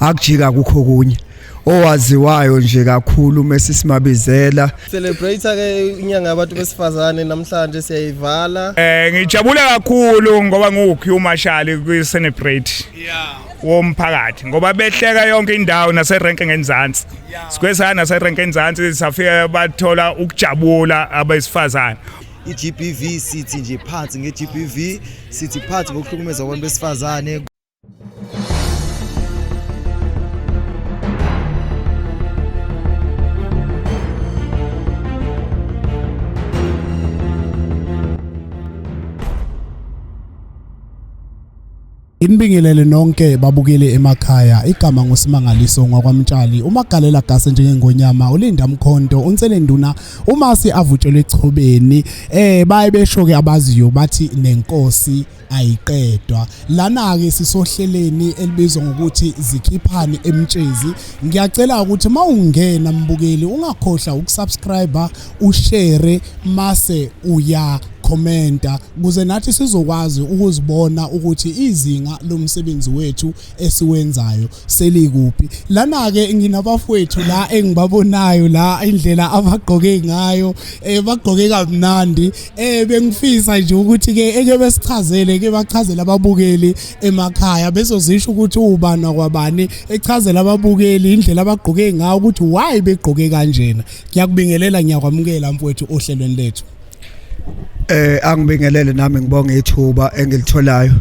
akujika kukho kunye owaziwayo nje kakhulu mesi simabizela celebrate ke inyanga yabantu besifazane namhlanje siyayivala eh ngijabula kakhulu ngoba ngiwukhi umashali kwi celebrate yeah womphakathi ngoba behleka yonke indawo nase rank ngenzansi sikwesana nase rank ngenzansi safika bathola ukujabula abesifazane iGBV sithi nje phansi ngeGBV sithi phansi ngokuhlukumeza abantu besifazane Inibingelele nonke babukele emakhaya igama ngusimangaliso ngwakwamtshali umagalela gase njengengonyama ulinda mkhonto unselenduna umasi avutshelwe echobeni eh baye besho ke abaziyo bathi nenkosi ayiqedwa lana-ke sisohleleni elibizwa ngokuthi zikhiphani emtshezi ngiyacela ukuthi uma ungena mbukeli ungakhohlwa ukusubscribe ushere mase uya commenta kuze nathi sizokwazi ukuzibona ukuthi izinga lomsebenzi wethu esiwenzayo selikuphi lana ke nginabafowethu la engibabonayo la indlela abagqoke ngayo eh bagqoke kamnandi eh bengifisa nje ukuthi ke eke besichazele ke bachazela ababukeli emakhaya bezozisho ukuthi ubani kwabani echazela ababukeli indlela abagqoke ngayo ukuthi why begqoke kanjena ngiyakubingelela ngiyakwamukela mfowethu ohlelweni lethu eh angibingelele nami ngibonga ithuba engilitholayo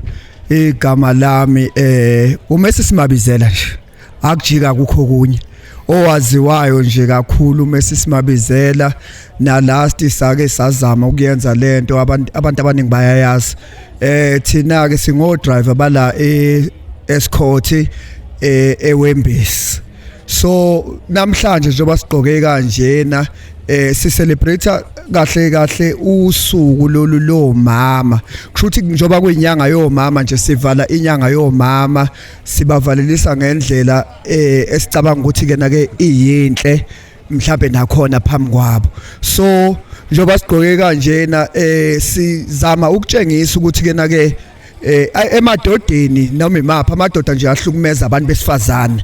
igama lami eh umesi simabizela nje akujika kukho kunye owaziwayo nje kakhulu umesi simabizela na last sake sazama ukuyenza lento abantu abantu abaningi bayayazi eh thina ke singo driver bala e escort eh ewembisi so namhlanje njengoba sigqoke kanjena eh si celebrate kahle kahle usuku lolu lo mama kushuthi njoba kuyinyanga yomama nje sivala inyanga yomama sibavalelisa ngendlela eh esicabanga ukuthi ke na ke iyinhle mhlambe nakhona phambi kwabo so njoba sigqoke kanjena eh sizama ukutshengisa ukuthi ke na ke eh emadodeni noma imapha amadoda nje ahlukumeza abantu besifazane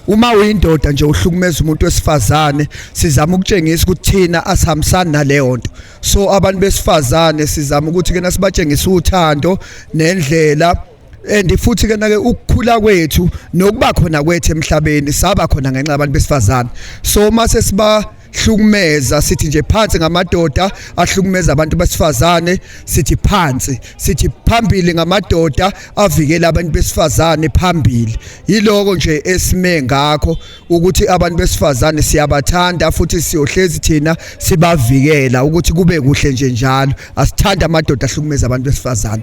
uma uyindoda nje uhlukumeza umuntu wesifazane sizama ukutshengisa ukuthi thina asihambisani naleyo nto so abantu besifazane sizama ukuthi kena sibatshengise uthando nendlela and futhi ke nake ukukhula kwethu nokuba khona kwethu emhlabeni saba khona ngenxa yabantu besifazane so uma sesiba hlukumeza sithi nje phansi ngamadoda ahlukumeza abantu besifazane sithi phansi sithi phambili ngamadoda avikela abantu besifazane phambili yiloko nje esime ngakho ukuthi abantu besifazane siyabathanda futhi siyohlezi thina sibavikela ukuthi kube kuhle nje njalo asithanda amadoda ahlukumeza abantu besifazane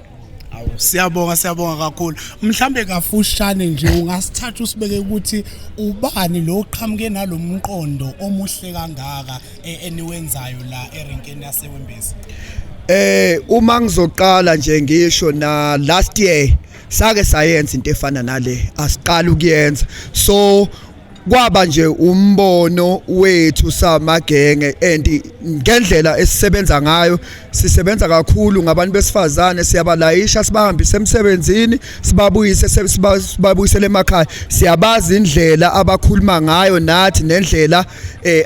Awu siyabonga siyabonga kakhulu. Mhlambe kafushane nje ungasithatha usibeke ukuthi ubani lo oqhamuke nalomqondo omuhle kangaka e- eniwenzayo la erenkeni yaseWembezi. Eh uma ngizoqala nje ngisho na last year sake sayenza into efana nale asiqala ukuyenza so kwaba nje umbono wethu samagenge and ngendlela esisebenza ngayo sisebenza kakhulu ngabantu besifazane siyabalayisha sibahambise emsebenzini sibabuyise sibabuyisele emakhaya siyabazi indlela abakhuluma ngayo nathi nendlela eh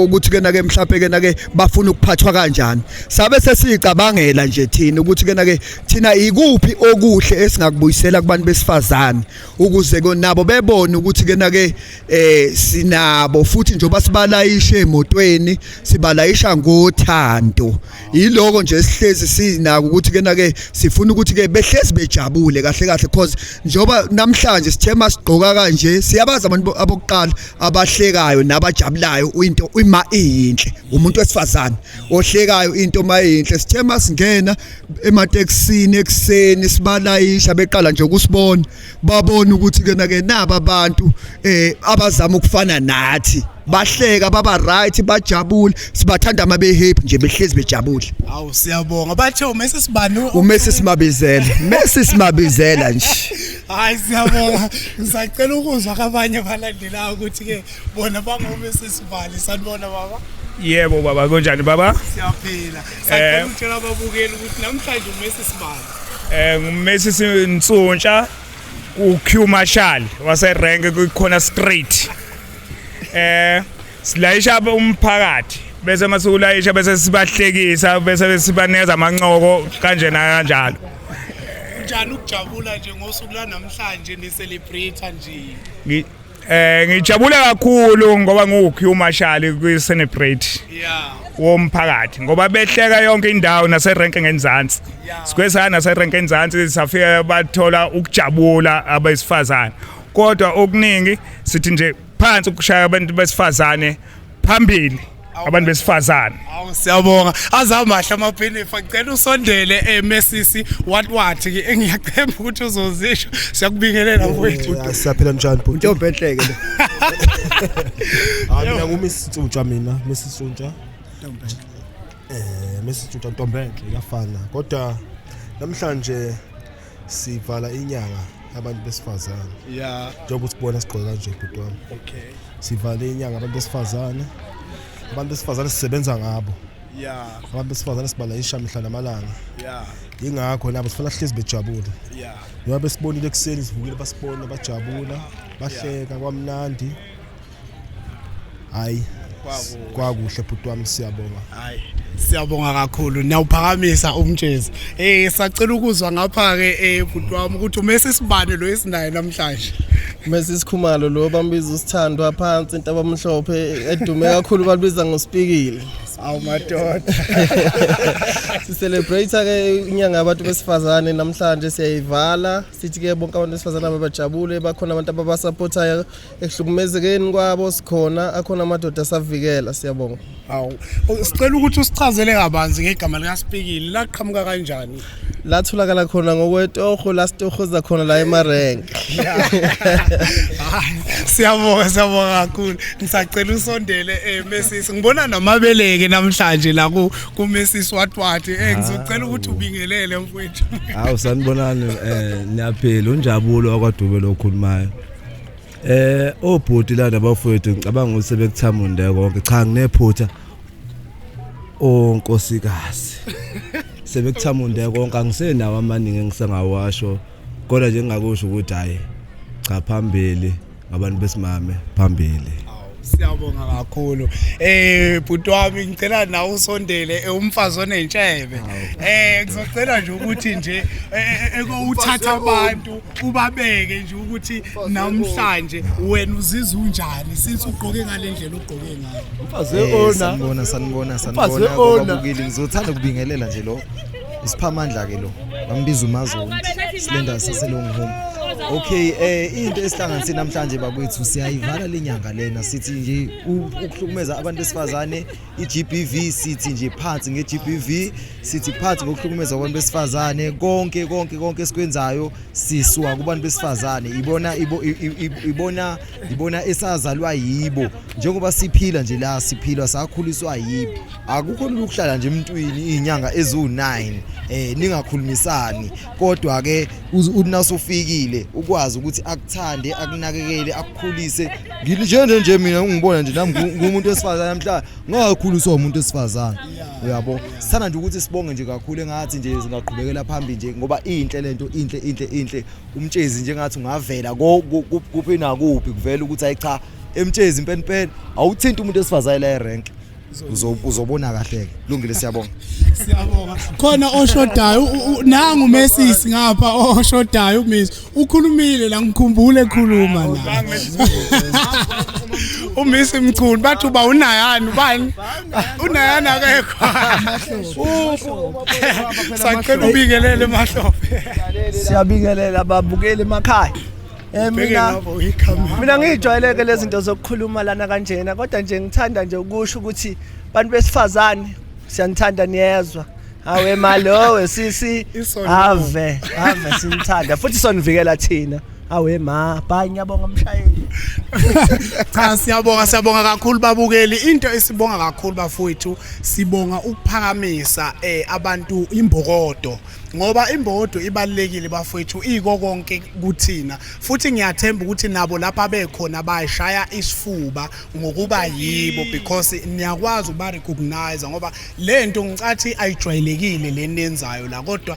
ukuthi kena ke mhlawumbe kena ke bafuna ukuphathwa kanjani sabe sesicabangela nje thina ukuthi kena ke thina ikuphi okuhle esingakubuyisela kubantu besifazane ukuze nabo bebone ukuthi kena ke eh sinabo futhi njengoba sibalayisha emotweni sibalayisha ngothando yiloko nje sihlezi sinako ukuthi kena ke sifuna ukuthi ke behlezi bejabule kahle kahle because njengoba namhlanje sithema sigqoka kanje siyabaza abantu abokuqala abahlekayo nabajabulayo into ima iyinhle umuntu wesifazane ohlekayo into mayinhle sithema singena ematekisini ekuseni sibalayisha beqala nje ukusibona babona ukuthi kena ke naba abantu eh abazama ukufana nathi bahleka baba right bajabule sibathanda ama be happy nje behlezi bejabule awu siyabonga bathe umese sibani umese simabizela mese simabizela nje hayi siyabonga ngisacela ukuzwa kabanye balandelayo ukuthi ke bona bangomese sibali sanibona baba yebo baba kunjani baba siyaphila Sacela utshela ababukeli ukuthi namhlanje uMessi sibani. Eh nguMessi Sintsontsha uQ Marshall wase rank kukhona straight. Eh silayisha umphakathi bese masikulayisha bese sibahlekisa bese sibaneza amancoko kanje na kanjalo. Njani ukujabula nje ngosuku la namhlanje ni celebrate nje? Eh ngijabule kakhulu ngoba ngiwukhi umashali kwi celebrate. Yeah. Womphakathi ngoba behleka yonke indawo nase rank ngenzansi. Sikwesana nase rank ngenzansi safika bathola ukujabula abesifazane. Kodwa okuningi sithi nje phansi ukushaya abantu besifazane phambili abantu besifazane awu siyabonga azamahle amaphinifa ngicela usondele emesisi eh, what what ke engiyacemba ukuthi uzozisho siyakubingelela mfowethu siyaphila njani bhuti intombi enhleke le hayi mina ngumisitshutsha mina misitshutsha eh misitshutsha ntombi enhle yafana kodwa namhlanje sivala inyanga abantu besifazane ya njengoba usibona sigqoke kanje bhuti wami okay sivale inyanga abantu besifazane abantu besifazane sisebenza ngabo ya abantu besifazane sibalayisha mihla namalanga ya yingakho nabo sifuna sihlezi bejabule ya njengoba besibonile ekuseni sivukile basibona bajabula bahleka kwamnandi hayi kwakuhle bhuti wami siyabonga hayi siyabonga kakhulu niyawuphakamisa umtshezi eh sacela ukuzwa ngapha ke eh bhuti wami ukuthi umese sibane lo esinaye namhlanje umese sikhumalo lo bambiza usithandwa phansi into abamhlophe edume kakhulu balibiza ngospikile awu madoda sicelebrate ke inyanga yabantu besifazane namhlanje siyayivala sithi ke bonke abantu besifazane ababajabule bakhona abantu ababasupportayo ehlukumezekeni kwabo sikhona akhona amadoda asavikela siyabonga hawu sicela ukuthi usichazele kabanzi ngegama likasipikile laqhamuka kanjani latholakala khona ngokwetoho lasitohoza khona la emarenke siyabonga siyabonga kakhulu ngisacela usondele eh mesisi ngibona namabeleke namhlanje la ku ku mesisi watwati eh ngizocela ukuthi ubingelele mfowethu hawu sanibonani eh niyaphila unjabulo akwadube lokhulumayo Eh obhuti la nabafowethu ngicabanga ukuthi sebekuthamunda konke cha nginephutha onkosikazi sebekuthamunda konke angisenawo amaningi engisengawasho kodwa nje ngingakusho ukuthi hayi cha phambili ngabantu besimame phambili Siyabonga kakhulu. Eh bhuti wami ngicela nawe usondele eh, umfazi onentshebe. Eh ngizocela nje ukuthi nje eh, eh, eh, ekowuthatha abantu ubabeke nje ukuthi namhlanje wena uzizwa unjani since ugqoke ngalendlela ugqoke ngayo. Mfazi ona. Sanibona sanibona sanibona. Ona. Ngizothatha kubingelela nje lo. isiphamandla ke lo bambiza umazulu silenda saselong home okay eh into esihlanganise namhlanje bakwethu siyayivala lenyanga lena sithi nje ukuhlukumeza abantu besifazane iGBV sithi nje phansi ngeGBV sithi phansi ngokuhlukumeza abantu besifazane konke konke konke esikwenzayo siswa kubantu besifazane ibona ibona ngibona esazalwa yibo njengoba siphila nje la siphilwa sakhuliswa yibo akukho lula ukuhlala nje emntwini izinyanga eziwu-9 eh ningakhulumisani kodwa ke unasofikile ukwazi ukuthi akuthande akunakekele akukhulise nginjene nje mina ungibona nje nami ngumuntu wesifazane namhla ngakhuliswa umuntu wesifazane uyabo sithanda nje ukuthi sibonge nje kakhulu engathi nje singaqhubekela phambili nje ngoba inhle lento inhle inhle inhle umtshezi njengathi ungavela kuphi nakuphi kuvela ukuthi ayi cha emtshezi impela impela awuthinta umuntu esifazane la erank uzobona kahle ke lungile siyabonga siyabonga khona oshodayo nangu umesisi ngapha oshodayo umisi ukhulumile la ngikhumbule ekhuluma la umisi mchunu bathi uba unayani ubani unayana akekho sacela ubingelele mahlophe siyabingelela ababukeli emakhaya Eh mina mina ngijwayeleke lezi zinto zokukhuluma lana kanjena kodwa nje ngithanda nje ukusho ukuthi bantu besifazane siyanithanda niyezwa hawe malo wesisi ave ave sinithanda futhi sonivikela thina awe ma bhayi ngiyabonga mshayeli cha siyabonga siyabonga kakhulu babukeli into esibonga kakhulu bafowethu sibonga ukuphakamisa eh abantu imbokodo ngoba imbokodo ibalekile bafowethu iko konke kuthina futhi ngiyathemba ukuthi nabo lapha bekhona bayishaya isifuba ngokuba yibo because niyakwazi ukuba recognize ngoba lento ngicathi ayijwayelekile lenenzayo la kodwa